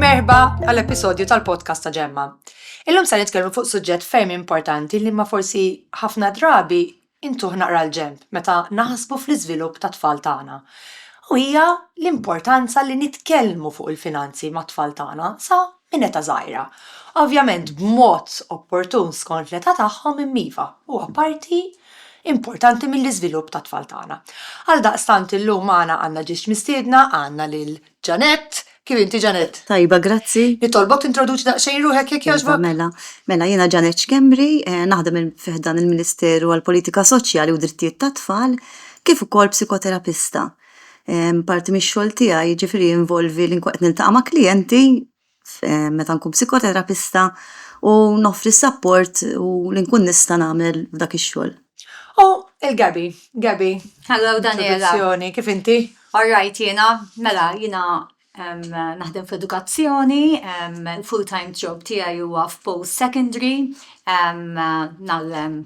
Merħba għall-episodju tal-podcast ta' Ġemma. Illum se nitkellmu fuq suġġett ferm importanti li ma forsi ħafna drabi intuħ naqra l-ġemp meta naħsbu fl-iżvilupp ta' tfal tagħna. U hija l-importanza li nitkellmu fuq il-finanzi mat-tfal tagħna sa minn età żgħira, ovvjament b'mod opportun skont l-età tagħhom imma iva, huwa parti importanti mill-iżvilupp tat-tfal tagħna. Għaldaqstant illum magħna għandna ġiex mistiedna, għandna lil Jeanette. Kif inti Jeanette? Tajba, grazzi. Nitolbok tintroduċi daqsxejn ruħek jekk jogħġbok? Iva, mela. Mela, jiena Jeanette Schembri, naħdem fi ħdan il-Ministeru għall-Politika Soċjali u d-Drittijiet tat-Tfal, kif ukoll psikoterapista. Parti mix-xogħol tiegħi jiġifieri jinvolvi li nkun qed niltaqa' ma' klijenti meta nkun psikoterapista u noffri s-sapport u li nkun nista' nagħmel dak ix-xogħol. O, il-Gabby, Gabby. Hello Daniela. Introduzzjoni, kif inti? All right jiena, mela jiena naħdem fl-edukazzjoni, il-full-time job tiegħi huwa f'post secondary, nagħllem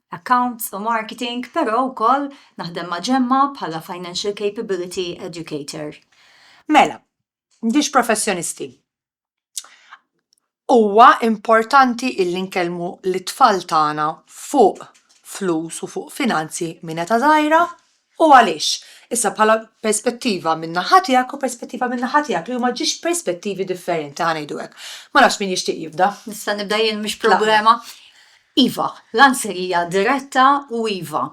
accounts u marketing, però wkoll naħdem ma' Ġemma bħala Financial Capability Educator. Mela, m'intix professjonisti. Huwa importanti illi nkellmu lit-tfal tagħna fuq flus u fuq finanzi minn età żgħira. U għaliex? Issa bħala perspettiva min-naħa tiegħek u perspettiva min-naħa tiegħek li huma ġiex perspettivi differenti, ħa ngħidu hekk. Ma nafx min jixtieq jibda. Nista' nibda jien mhix problema. Iva, l-answer hija diretta u iva.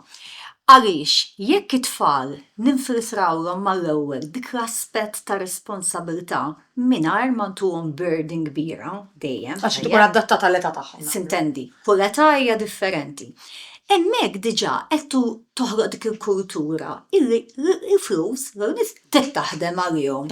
Għaliex jekk it-tfal ninfiltrawlhom mal-ewwel dik l-aspett ta' responsabilità, mingħajr ma ntuhom burden kbira dejjem. Għax tkun adattata għall-età tagħhom. Sintendi, kull età hija differenti. Hemmhekk diġà qed toħloq dik il-kultura illi l-flus, jew in-nies, trid taħdem għalihom.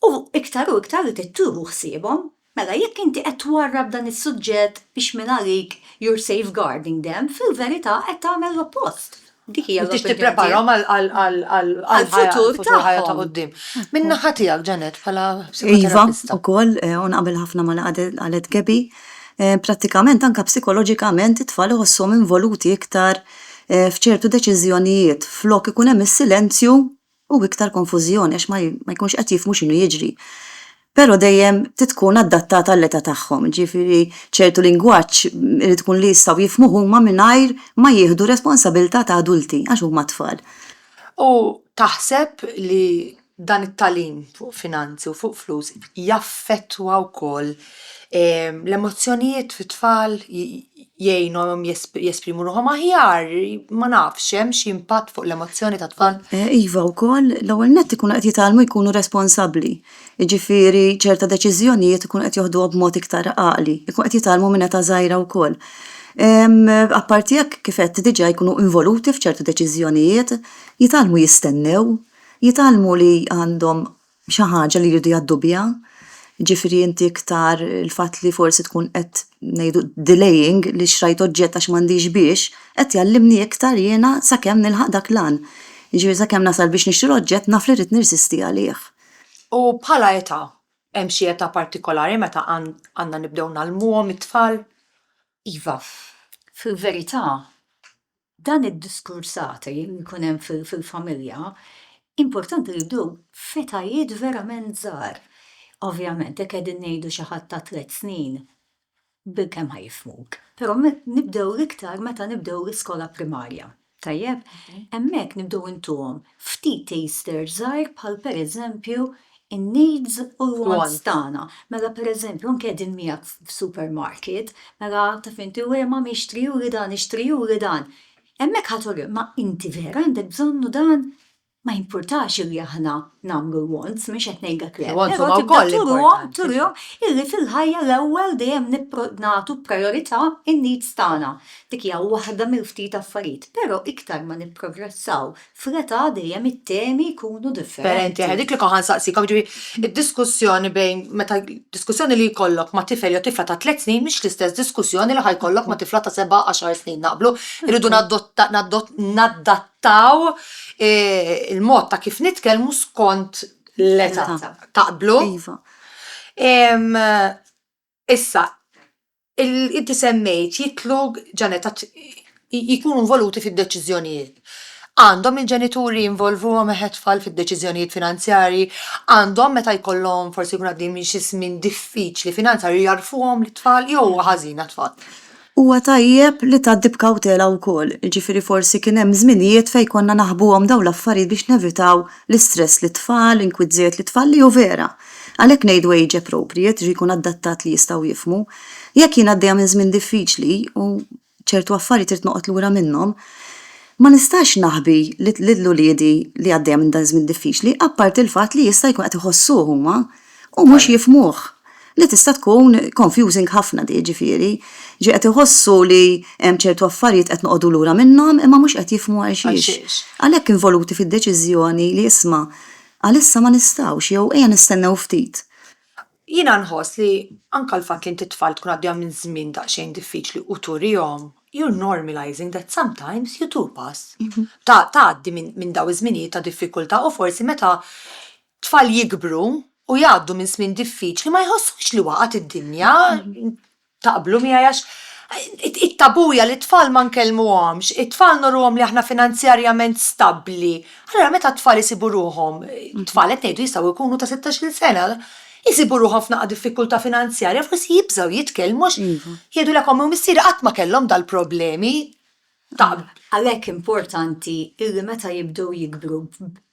U iktar u iktar li trid tieħu ħsiebhom. Mela jekk inti qed twarrab dan is-suġġett biex mingħalik you're safeguarding them, fil-verità qed tagħmel l-oppost. Dik hija l-opinjoni. Trid tippreparahom għall-futur ħajja ta' quddiem. Min-naħa tiegħek, Janet, bħala psikoterapista. Iva, ukoll, u naqbel ħafna ma' li qalet Gaby, prattikament anke psikoloġikament it-tfal iħossuhom involuti iktar f'ċertu deċiżjonijiet flok ikun hemm is-silenzju u iktar konfużjoni għax ma ma jkunx qed jifhmu x'inhu jiġri. Però dejjem trid tkun adattata għall-età tagħhom, ġifieri ċertu lingwaġġ irid ikun li jistgħu jifhmuh huma mingħajr ma jieħdu r-responsabilità ta' adulti għax huma tfal. U taħseb li dan it-tagħlim fuq finanzi u fuq flus jaffettwa wkoll L-emozzjonijiet fit-tfal jgħinhom jesprimu ruħhom aħjar, ma nafx, hemm xi impatt fuq l-emozzjoni tat-tfal? Iva wkoll, l-ewwel nett ikunu qed jitgħallmu jkunu responsabbli, jiġifieri ċerta deċiżjonijiet ikunu qed joħduhom b'mod iktar għaqli, ikunu qed jitgħallmu minn età żgħira wkoll. Apparti hekk, kif għedt diġà, jkunu involuti f'ċertu deċiżjonijiet, jitgħallmu jistennew, jitgħallmu li għandhom xi ħaġa li jridu jgħaddu biha, jiġifieri inti iktar il-fatt li forsi tkun qed ngħidu delaying li xtrajt oġġett għax m'għandix biex, qed jgħallimni iktar jiena sakemm nilħaq dak l-għan. Jiġifieri sakemm nasal biex nixtri l-oġġett naf li rrid nirsisti għalih. U bħala età, hemm xi età partikolari meta għandna nibdew ngħallmuhom it-tfal? Iva, fil-verità Dan id-diskursati li jkun hemm fil-familja, importanti li jibdew f'etajiet verament żgħar. Ovvjament, jekk qegħdin ngħidu xi ħadd ta' tliet snin, bilkemm ħa jifhmuk. Però nibdew l-iktar meta nibdew l-iskola primarja, tajjeb? Hemmhekk nibdew intuhom ftit taster żgħir bħal pereżempju in-needs u l-wants tagħna. Mela pereżempju anke qegħdin miegħek f'supermarket, mela taf inti u ma mixtri juri dan, ixtri juri dan. Hemmhekk ħa turi ma inti vera għandek bżonnu dan? Ma jimpurtax illi aħna nagħmlu l-wants, mhux qed ngħidlek le. Però tibda turihom, turihom illi fil-ħajja l-ewwel dejjem nagħtu prijorità in-needs tagħna. Dik hija waħda mill-ftit affarijiet, però iktar ma nipprogressaw F'reta dejjem it-temi jkunu differenti. Dik li kont nsaqsik, jiġifieri id-diskussjoni bejn meta diskussjoni li jkollok ma' tifel jew tifla ta' tliet snin mhix l-istess diskussjoni li ħa jkollok ma' tifla ta' seba' għaxar snin, naqblu? Irridu nadattaw il-mod ta' kif nitkellmu skont l-età. Taqblu? Iva. Issa, inti semmejt jidħlu jkunu involuti fid-deċiżjonijiet. Għandhom il-ġenituri jinvolvuhom it-tfal fid-deċiżjonijiet finanzjarji? Għandhom meta jkollhom forsi jkunu għaddejjin minn xi żmien diffiċli finanzjarju jgħarrfuhom lit-tfal jew huwa ħażin għat-tfal? Huwa tajjeb li tgħaddi b'kawtela wkoll, jiġifieri forsi kien hemm żminijiet fejn konna naħbuhom dawn l-affarijiet biex nevitaw l-istress lit-tfal, l-inkwiet żejjed lit-tfal li hu vera. Għalhekk ngħidu age appropriate, jiġifieri jkun adattat li jistgħu jifhmu. Jekk jien għaddejja minn żmien diffiċli u ċertu affarijiet irid noqgħod lura minnhom, ma nistax naħbi lil uliedi li għaddejja minn dan iż-żmien diffiċli, apparti l-fatt li jista' jkun qed iħossuh huma u mhux jifhmuh, li tista' tkun confusing ħafna di jiġifieri, ġi qed iħossu li hemm ċertu affarijiet qed noqogħdu lura minnhom imma mhux qed jifhmu għalxiex. Għalhekk involuti fid-deċiżjoni li isma' għalissa ma nistgħux jew ejja nistennew ftit. Jiena nħoss li anke l-fatt li int it-tfal tkun għaddejja minn żmien daqsxejn diffiċli u turihom, you're normalizing that sometimes you do pass, tgħaddi minn dawn iż-żminijiet ta' diffikultà u forsi meta tfal jikbru u jgħaddu minn żmien diffiċli ma jħossuhx li waqgħet id-dinja, taqblu miegħi għax it-tabù hija li t-tfal ma nkellmuhomx, it-tfal nurruhom li aħna finanzjarjament stabbli. Allura meta t-tfal isibu ruħhom, tfal qed ngħidu jistgħu jkunu ta' sittax-il sena, isibu ruħhom f'naqqa diffikultà finanzjarja forsi jibżgħu jitkellmu għax jgħidulek omm u missieri qatt ma kellhom dal-problemi. Għalhekk importanti illi meta jibdew jikbru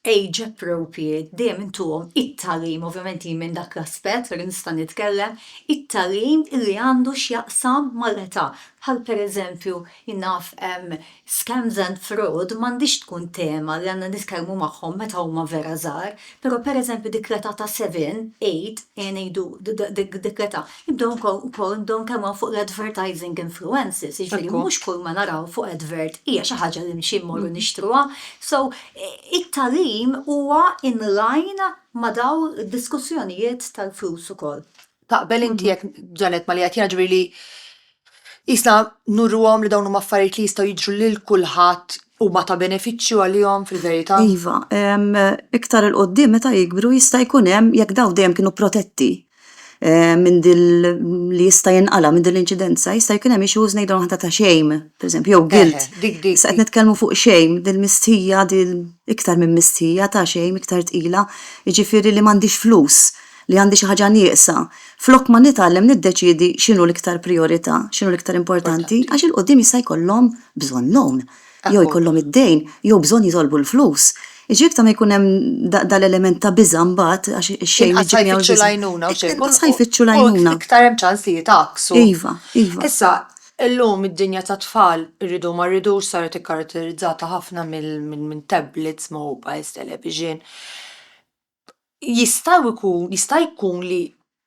b'age appropriate dejjem intuhom it-tagħlim, ovvjament hi minn dak l-aspett li nista' nitkellem, it-tagħlim illi għandu x'jaqsam mal-età. Bħal pereżempju jien naf scams and fraud m'għandhiex tkun tema li għandna nitkellmu magħhom meta huma vera żgħar, però pereżempju dik l-età ta' seven, eight, ejja ngħidu dik l-età, Id-dawn ukoll dawn kemm hawn fuq l-advertising influences, jiġifieri mhux kull ma naraw fuq advert hija xi ħaġa li nimxi mmorru nixtruha. So, it-tagħlim huwa in line ma' dawn id-diskussjonijiet tal-flus ukoll. Taqbel inti jekk, Janet, ma' li qed jiġri li Qisna nurruhom li dawn huma affarijiet li jistgħu jiġru lil kulħadd, huma ta' benefiċċju għalihom fil-verità? Iva, iktar 'il quddiem meta jikbru jista' jkun hemm, jekk dawn dejjem kienu protetti minn din li jista' jinqala' minn din l-inċidenza, jista' jkun hemm issues ngħidulhom aħna ta' shame, pereżempju, jew guilt. Issa qed nitkellmu fuq shame, din mistħija, din iktar minn mistħija, ta' shame iktar tqila, jiġifieri li m'għandhiex flus. li għandi xi ħaġa nieqsa, flok ma nitgħallem niddeċiedi x'inhu l-iktar prijorità, x'inhu l-iktar importanti, għax 'il quddiem jista' jkollhom bżonn loan, jew jkollhom id-dejn, jew bżonn jitolbu l-flus. Jiġri iktar ma jkun hemm dan l-element ta' biża' mbagħad għax ix-xejn iġib miegħu l-biża'. Inqas ħa jfittxu l-għajnuna. U iktar hemm ċans li jitgħakksu. Iva, iva. Issa, illum id-dinja tat-tfal, irridu ma rridux, saret ikkaratterizzata ħafna minn tablets, mobiles, television. jistgħu jkun, jista' jkun li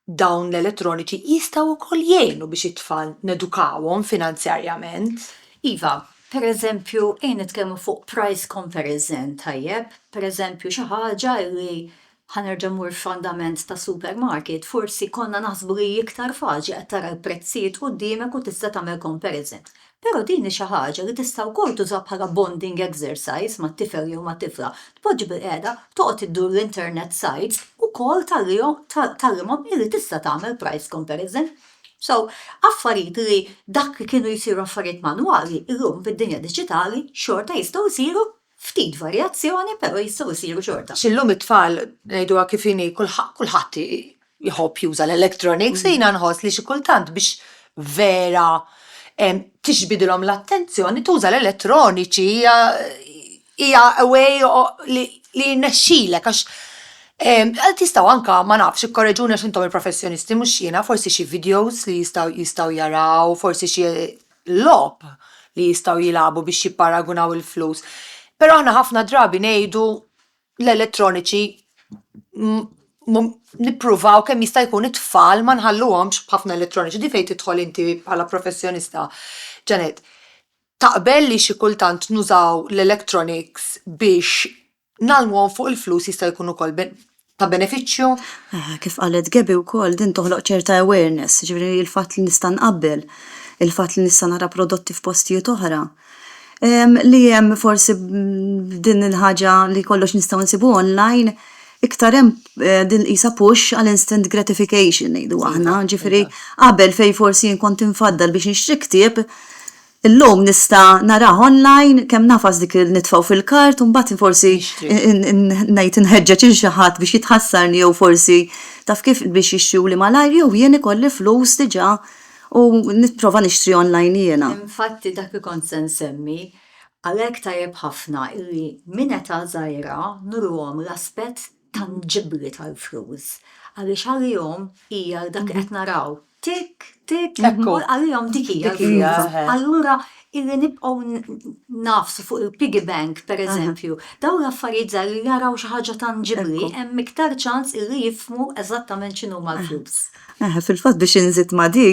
dawn l-elettroniċi jistgħu wkoll jgħinu biex it-tfal nedukawhom finanzjarjament. Iva, pereżempju, ejja nitkellmu fuq price comparison tajjeb, pereżempju xi ħaġa li, ħa nerġa' mmur f'andament ta' supermarket, forsi konna naħsbu li hi iktar faċli, qed tara l-prezzijiet quddiemek u tista' tagħmel comparison. Però din hi xi ħaġa li tista' wkoll tuża bħala bonding exercise mat-tifel jew mat-tifla. Tpoġġi bilqiegħda, toqgħod iddur l-internet sites u kol tagħrihom, tgħallimhom illi tista' tagħmel price comparison. So, affarijiet li dak li kienu jsiru affarijiet manwali, illum fid-dinja diġitali xorta jistgħu jsiru Ftit varjazzjoni però jistgħu jsiru xorta. Illum it-tfal, ngħiduha kif inhi, kulħadd jħobb juża l-electronics, jiena nħoss li xi kultant biex vera tiġbidilhom l-attenzjoni tuża l-elettroniċi hija a way li jirnexxilek għax tistgħu anka ma nafx, ikkoreġuni għax intom il-professjonisti mhux jiena, forsi xi videos li jistgħu jaraw, forsi xi logħob li jistgħu jilagħbu biex jipparagunaw il-flus. Però aħna ħafna drabi ngħidu l-elettroniċi nippruvaw kemm jista' jkun it-tfal ma nħalluhomx b'ħafna elettroniċi. Di fejn tidħol inti bħala professjonista, Janet. Taqbel li xi kultant nużaw l-electronics biex ngħallmuhom fuq il-flus jista' jkun ukoll ta' benefiċċju. Eh, kif qalet Gebi wkoll din toħloq ċerta awareness, ġifieri il-fatt li nista' nqabbel, il-fatt li nista' nara prodotti f'postijiet oħra. Li hemm forsi din il-ħaġa li kollox nistgħu nsibu online, iktar hemm eh, din qisha push għal instant gratification ngħidu aħna, ġifieri qabel fejn forsi jien kont infaddal biex nixtri ktieb, Illum nista' narah online kemm nagħfas dik il-nitfgħu fil-kart u mbagħad forsi ngħid inħeġġeġ lil xi ħadd biex jitħassarni jew forsi taf kif biex jixtruli malajr jew jien ikolli flus diġà u nipprova nixtri online jiena. Infatti dak li kont se nsemmi, għalhekk tajjeb ħafna illi minn età żgħira nurruhom l-aspett tanġibbli tal-flus għaliex għalihom hija dak li qed naraw tikk tikk għalihom dik hija l-flus. Allura illi nibqgħu ngħafsu fuq il-piggy bank pereżempju, dawn l-affarijiet żgħar li jaraw xi ħaġa tanġibbli hemm iktar ċans illi jifhmu eżattament x'inhuma l-flus. Eħe, fil-fatt biex inżid ma' di,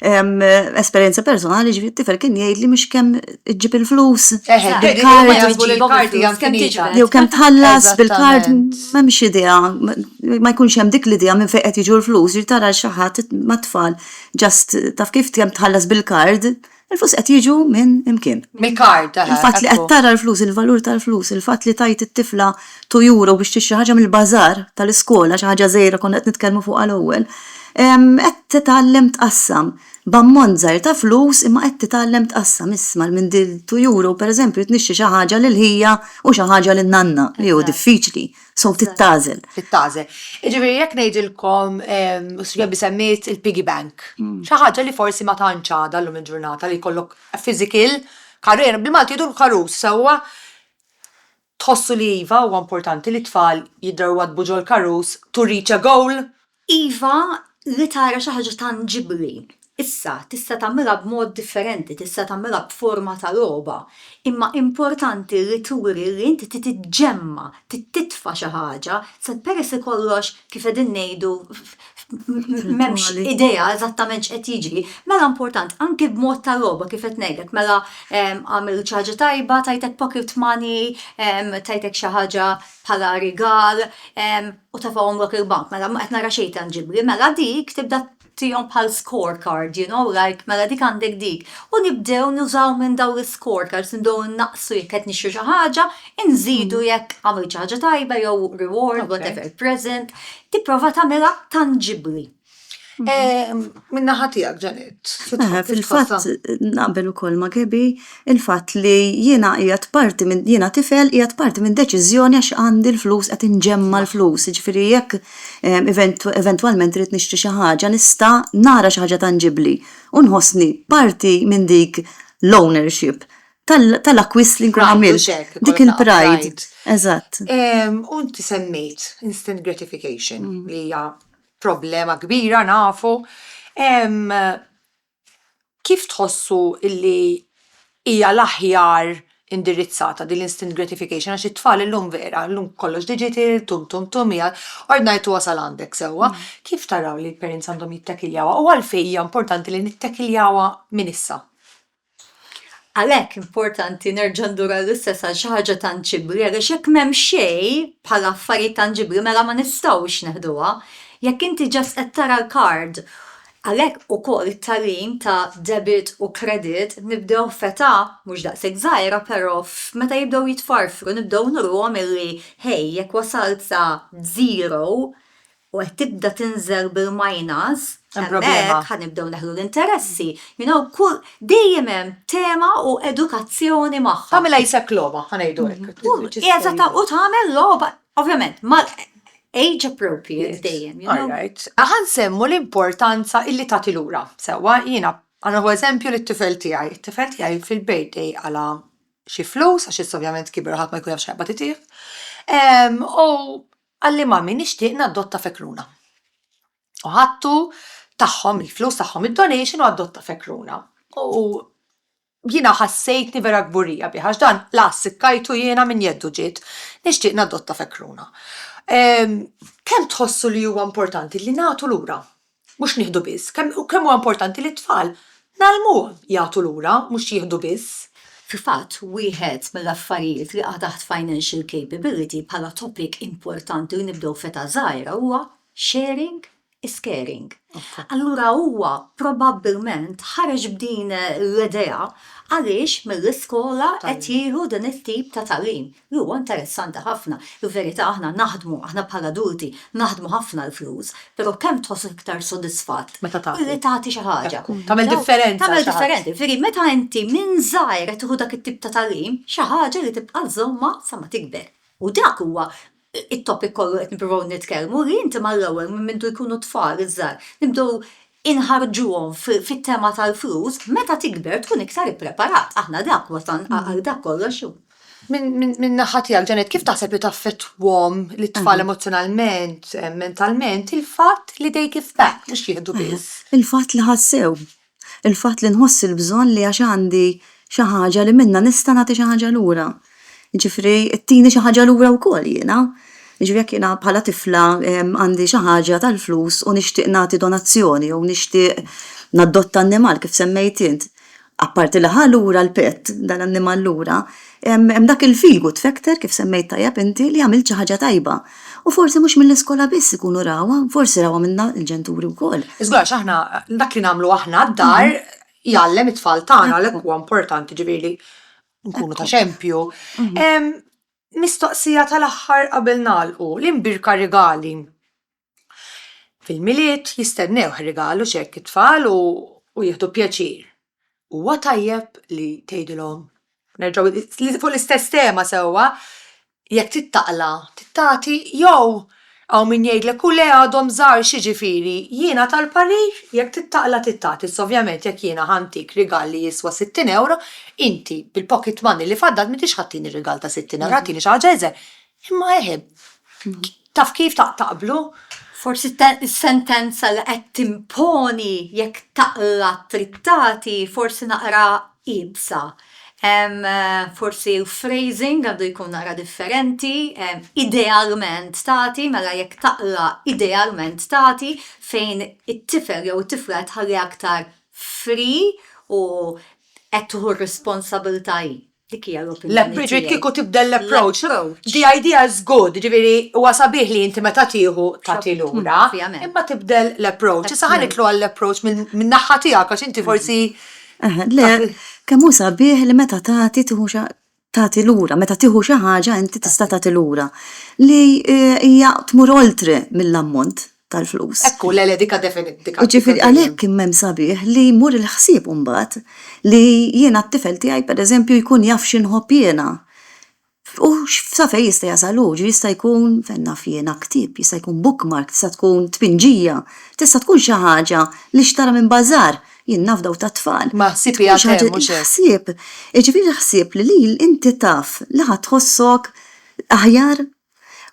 ehm, esperjenza personali ġifieri t-tifel kien jgħidli mhux kemm iġġib il-flus Eħe, dik li huma bil-kard, jaħsbu li l-kard hija kemm tiġbed. jew kemm tħallas bil-kard, Eżattament. m'hemmx idea, ma- ma jkunx hemm dik l-idea minn fejn qed jiġu l-flus, ġifieri tara lil xi ħadd ma' tfal just taf kif kemm tħallas bil-kard, Il-flus qed jiġu minn imkien. Mill-kard, aha. Il-fatt li qed tara l-flus, il-valur tal-flus, il-fatt li tgħid it-tifla two euro biex tixtri ħaġa mill-bażar tal-iskola, xi ħaġa żgħira konna qed nitkellmu fuqha l-ewwel, qed titgħallem tqassam b'ammont żgħir ta' flus imma qed titgħallem tqassam. Isma' l minn dil-two euro, pereżempju, trid nixtri xi ħaġa lil ħija u xi ħaġa lin-nanna, li hu diffiċli. So tittagħżel. Tittagħżel. Jiġifieri jekk ngħidilkom Sibjabbi semmiet il-piggy bank. Xi ħaġa li forsi ma tantx għadha llum il-ġurnata li jkollok physical karus, bil-Malti jgħidu l-karus sewwa. Tħossu li iva huwa importanti li t-tfal jidrawwadbu ġol-karus to reach a goal? Iva, li tara xi ħaġa tanġibbli. Issa, tista' tagħmilha b'mod differenti, tista' tagħmilha b'forma ta' logħba, imma importanti li turi li inti trid iġġemma', trid titfa' xi ħaġa, sa peress li kollox, kif qegħdin ngħidu, m'hemmx idea eżattament x'qed jiġri, mela important, anki b'mod ta' logħba, kif qed ngħidlek, mela għamilt xi ħaġa tajba, tajtek pocket money, tajtek xi ħaġa bħala rigal u tefgħuhom lok il-bank. Mela ma qed nara xejn tanġibbli. Mela dik tibda tihom bħal scorecard, you know, like mela dik għandek dik. U nibdew nużaw minn dawn l-scorecards, nibdew innaqsu jekk qed nixtru xi ħaġa, inżidu mm. jekk għamil xi ħaġa tajba jew reward, whatever, present, tipprova tagħmilha tanġibbli. Eh, Minna ħatijak ġanet. Eh, fil-fatt, naqbel u koll ma gebi, il-fatt li jina jgħat parti minn, jina tifel jgħat parti minn deċizjoni għax għandi l-flus, għat inġemma l-flus, ġifiri jek eh, eventualment rrit nixtri xaħġa, nista nara xaħġa tanġibli, unħosni parti minn dik l-ownership tal-akwist li nkun għamil. Dik il-pride. Eżatt. Unti semmejt instant gratification mm. li hija problema kbira nafu, kif tħossu li hija l-aħjar indirizzata din l-instant gratification għax it-tfal illum vera, llum kollox digital, tum tum tum, ord ngħid u wasal għandek sewwa, kif taraw li l-parents għandhom jittakiljawha u għalfejn hija importanti li nittakiljawha minn issa? Għalhekk importanti nerġa' ndur għall-istess għal xi ħaġa tanġibbli għaliex jekk m'hemm xejn bħala affarijiet tanġibbli mela ma nistgħux neħduha. Jekk inti just qed tara l-card. Għalhekk ukoll it-tagħlim ta' debit u credit nibdew f'età mhux daqshekk żgħira però meta jibdew jitfarfru nibdew nuruhom illi hey jekk wasalt sa zero u qed tibda tinżel bil-minus, hemmhekk ħa nibdew neħlu l-interessi. You know, kull, dejjem hemm tema u edukazzjoni magħha. Tagħmilha jisek logħba, ħa ngħidu hekk. Eżatt, u tagħmel logħba, ovvjament, ma' age appropriate dejjem, you know. Alright. Ħa nsemmu l-importanza illi tagħti lura. Sewwa, jiena, ħa nieħu eżempju lit-tifel tiegħi. It-tifel tiegħi fil-birthday qala' xi flus, għax issa ovvjament kiber u ħadd ma jkun jaf x'qed jaqbad itih, u Qalli Mami nixtieq naddotta fekruna. U ħadtu tagħhom il-flus tagħhom id-donation u addotta fekruna. U jiena ħassejtni vera kburija bih għax dan la ssikkajtu jiena minn jeddu ġiet nixtieq naddotta fekruna. Kemm tħossu li huwa importanti li nagħtu lura mhux nieħdu biss, kemm u kemm huwa importanti li t-tfal ngħallmuhom jagħtu lura mhux jieħdu biss. Fil-fatt, wieħed mill-affarijiet li jaqa' taħt financial capability bħala topic importanti li nibdew f'età żgħira huwa sharing is caring. Allura huwa probabbilment ħareġ b'din l-idea għaliex mill-iskola qed jieħu din it-tip ta' tagħlim. Huwa interessanti ħafna. Il-verità aħna naħdmu, aħna bħal adulti, naħdmu ħafna għall-flus, però kemm tħossok iktar sodisfatt billi tagħti xi ħaġa. Tagħmel differenza. Tagħmel differenza. Jiġifieri meta inti minn żgħir qed tieħu dak it-tip ta' tagħlim, xi ħaġa li tibqa' żżommha sa ma tikber. U dak huwa t-topic kollu qed nippruvaw nitkellmu li inti mal-ewwel minn mindu jkunu t-tfal iż-żgħar nibdew inħarġuhom fit-tema tal-flus, meta tikber tkun iktar ippreparat. Aħna dak wasalna għal dak kollox hu. Minn naħa tiegħek, Janet, kif taħseb li taffettwahom lit-tfal emozzjonalment, mentalment, il-fatt li they give back, mhux jieħdu biss? Il-fatt li ħassew. Il-fatt li nħoss il-bżonn li għax għandi xi ħaġa li minnha nista' nagħti xi ħaġa lura. Jiġifieri tini xi ħaġa lura wkoll jiena. Jiġifieri jekk jiena bħala tifla għandi xi ħaġa tal-flus u nixtieq nagħti donazzjoni jew nixtieq naddotta annimal kif semmejt int, apparti li ħa lura l-pet, dal-annimal lura, hemm dak il-feel good factor kif semmejt tajjeb inti li għamilt xi ħaġa tajba. U forsi mhux mill-iskola biss ikunu rawha, forsi rawha minna l-ġenturi wkoll. Iżgur għax aħna dak li nagħmlu aħna d-dar jgħallem it-tfal tagħna għalhekk huwa importanti ġifieri li nkunu ta' xempju. Mhm. Mistoqsija tal-aħħar qabel nagħlqu, l-imbirka rigali. Fil-milied jistennew rigalu x'hekk it-tfal u jieħdu pjaċir. Huwa tajjeb li tgħidilhom, nerġgħu fuq l-istess tema sewwa, Jekk trid taqla' trid tagħti jew hawn min jgħidlek u le għadhom żgħar x'jiġifieri? Jiena tal-parir jekk trid taqla' trid tagħti iżda ovvjament jekk jiena ħa ntik rigal li jiswa sittin ewro inti bil-pocket money li faddalt m'intix ħa tini rigal ta' sittin ewro ħa tini xi ħaġa iżgħar imma eħe taf kif taqblu. Forsi s-sentenza li qed timponi jekk taqla' trid tagħti forsi naqra iebsa. Forsi l-phrasing għandu jkun naqra differenti, idealment tagħti, mela jekk taqra idealment tagħti fejn it-tifel jew it-tifla qed tħalli aktar free u qed tieħu r-responsabilità hi. Dik hija l-opinjoni tiegħi. Le Bridget kieku tibdel l-approach. The idea is good, jiġifieri huwa sabiħ li inti meta tieħu tagħti lura, imma tibdel l-approach. Issa ħa nidħlu għall-approach minn naħa tiegħek għax inti forsi Eh, le, kemm hu sabiħ li meta tagħti tieħu xa tagħti lura, meta tieħu xi ħaġa inti tista' tagħti lura li eh, hija tmur oltre mill-ammont tal-flus. Ekku, le, le, dika definitika. Ġifiri, għalek kimmem sabiħ li mur il-ħsib umbat li jiena t-tifel tijaj per eżempju jkun jaf xinħob jiena. U sa fejn jista' jasal hu, ġifieri jista' jkun, fejn naf jiena, ktieb, jista' jkun bookmark, tista' tkun tpinġija, tista' tkun xi ħaġa li xtara minn bazaar, jien naf dawk tat-tfal. Ma ħsieb hija tgħemm, mhux hekk? Il-ħsieb, jiġifieri l-ħsieb li inti taf li ħa tħossok aħjar,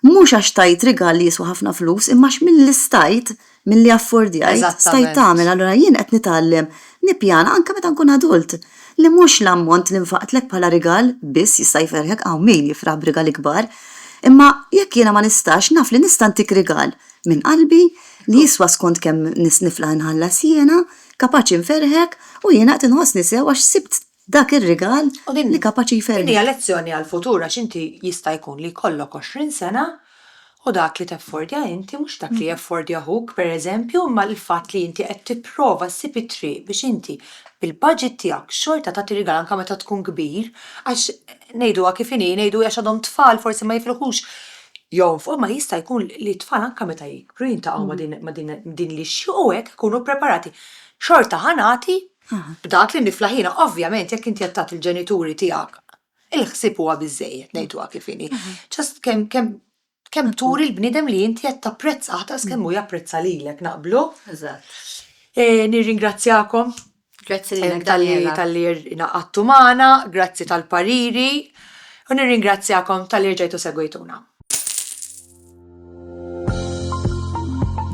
mhux għax tajt rigal li jiswa ħafna flus imma għax milli stajt milli affordjajt, stajt Eżattament. tagħmel, allura jien qed nitgħallem nippjana anke meta nkun adult. Li mhux l-ammont li nfaqtlek bħala rigal biss jista' jferrħek, hawn min jifraħ b'rigali kbar, imma jekk jiena ma nistax, naf li nista' ntik rigal minn qalbi li jiswa skont kemm niflaħ inħallas jiena, kapaċi nferrħek u jiena qed inħossni sew għax sibt Dak ir-rigal li kapaċi jferrħek. Din hija lezzjoni għall-futur għax inti jista' jkun li jkollok għoxrin sena u dak li teffordja inti mhux dak li jeffordja ħuk, pereżempju, imma l-fatt li inti qed tipprova ssib it-triq biex inti bil-baġit tiegħek xorta tagħti rigal anke meta tkun kbir għax ngħiduha kif inhi, ngħidu għax għadhom tfal forsi ma jifilħux jonfqu imma jista' jkun li t-tfal anke meta jikbru jiltaqgħu ma' din li jixtiequ hekk ikunu ppreparati. Xorta ħa nagħti B'dak li niflaħ jiena, ovvjament jekk inti qed tagħti l-ġenituri tiegħek il-ħsieb huwa biżżejjed, ngħiduha kif inhi. Just kemm kemm kemm turi l-bniedem li inti qed tapprezzah daqs kemm hu japprezza lilek, naqblu? Eżatt. Nirringrazzjakom. Grazzi lilek Daniela. Tal-li ingħaqadtu magħna, grazzi tal-pariri u nirringrazzjakom tal-li rġajtu segwejtuna.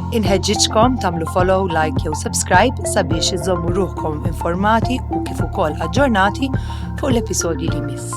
Inħeġġiġkom tagħmlu follow, like jew subscribe sabiex iżommu ruħkom informati u kif ukoll aġġornati fuq l-episodji li miss.